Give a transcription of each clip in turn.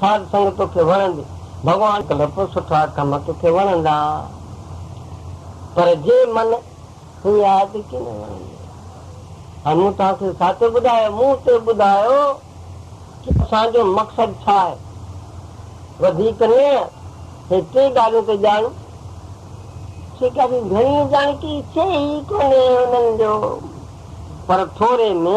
ساڌ سنگ توکي وڻندي ڀڳوان ڪلپ سٺا ڪم توکي وڻندا پر جي من هي آيت ڪينه وڻندي هاڻي مون توهان کي ساچو ٻڌايو منهن تي ٻڌايو ڪي اسان جو مقصد ڇا آهي وڌيڪ نه هي ٽي ڳالهيون ته ڄاڻو سيڪا جي گهڻي ڄاڻڪي چي ئي ڪونهي انهن جو پر ٿوري ۾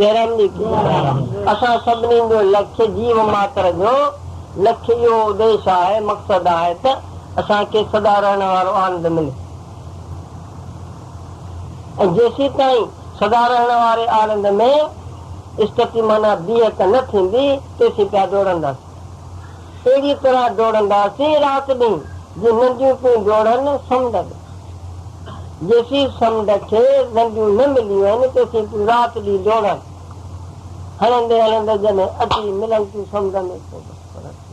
جهرن جي ڪيئن آهي؟ اسان سڀني جو لکي، جيو ماتر جو لکي اهو اديش آهي، مقصد آهي ته اسان کي سدا رهڻ وارو آنند ملي ۽ جيسيتائين سدا رهڻ واري آنند ۾ استقيمانه بيهڪ نه ٿيندي، تيسين پيا ڊوڙنداسين. اهڙيء طرح ڊوڙنداسين رات ڏينهن، جي ننڊيون پيون ڊوڙن سمنڊ ۾. جيسين سمنڊ کي ننڊيون نه مليون آهن، تيسين تون رات ڏينهن ڊوڙن. هلندي هلندي جڏهن اچي ملن تون سمنڊ ۾، پوء بس پرهه ٿي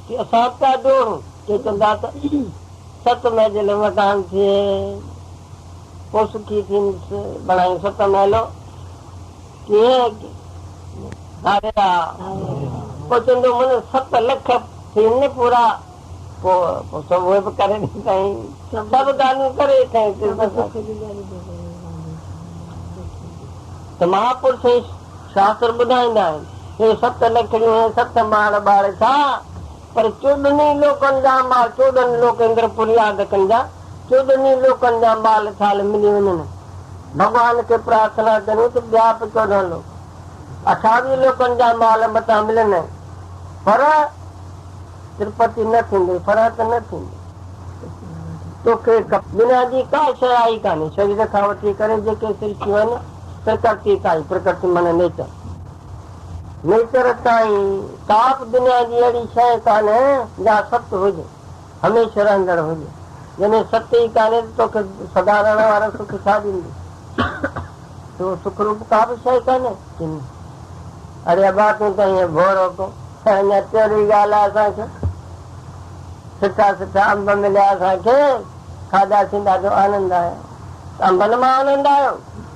ويندين. اسان به پيا ڊوڙون. ڪي چوندا ته ست مهج لوڻ ٽانگ ٿئي، پوء سکي ٿيندس. بڻايون ست محلو. ڪيئن ڌاريا پوچندو من ست لک ٿين پورا پوء سڀ اهي به ڪري ڏيندائين سڀ ڳالهيون ڪري ڪنهن تي ته مهاپرش شاستر ٻڌائيندا آهن اهي ست لکڙيون ست ماڙ ٻاڙ ڇا پر چوڏهني لوڪن جا انبار چوڏهن لوڪيندر فرياد ڪن جا چوڏهني لوڪن جا بال ڇال ملي وڃن ڀڳوان کي پرارٿنا ڪريون ته ٻيا به چوڏهن لوڪ اٺاويهه لوڪن جا مال متان ملن ۽ فرح ترپتي نه ٿيندي فرح ته نه ٿيندي توکي بنا جي ڪا شيء آئي ڪانهي شرير کان وٺي ڪري جيڪي سرشتيون آهن پرڪرتي تائين پرڪرتي معنيٰ نيچر ميچر تائين ڪا به دنيا جي اهڙي شيء ڪانهي جا ست هج، هميشه رهندڙ هج. جڏهن ست ئي ڪانهي ته توکي سدا رهڻ وارو سک ڇا ڏيندي؟ تو سک روپ ڪا به شيء ڪانهي. چيم، اڙي ابا تون ته ائين بور هو ڪين. اڃا تهڙي ڳالهه آهي اسان کي. سٺا سٺا انب مليا اسان کي، کاڌاسين ڏاڍو آنند آيو. انبن مان آنند آيو؟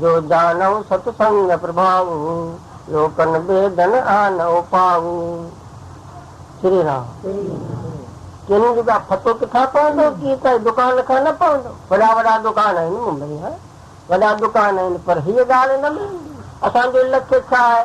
جو ڄاڻئو ست سنگ پرڀاوو، لوڪن بيدن آن اوپاوو. شري رام. ڪن جو ڪا پتو ڪٿان پوندو ڪي ڪنهن دڪان کان نه پوندو. وڏا وڏا دڪان آهن ممبئي ها وڏا دڪان آهن پر هيء ڳالهه نه ملندي اسان جو لڪ ڇا آهي.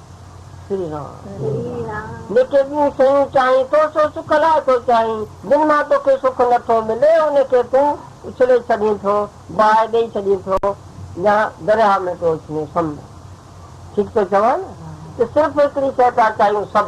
جيڪي ٻيون شيون چاهين، تو سو سک لاء ٿو چاهين، جن مان توکي سک نه ٿو ملي، ان کي تون اڇلي ڇڏين ٿو، باهه ڏيئي ڇڏين ٿو يا درياهه ۾ پيو اڇلين سمجهه. ٺيڪ ٿو چوان نه؟ ته صرف هڪڙي شيء ٿا چاهيون سڀ.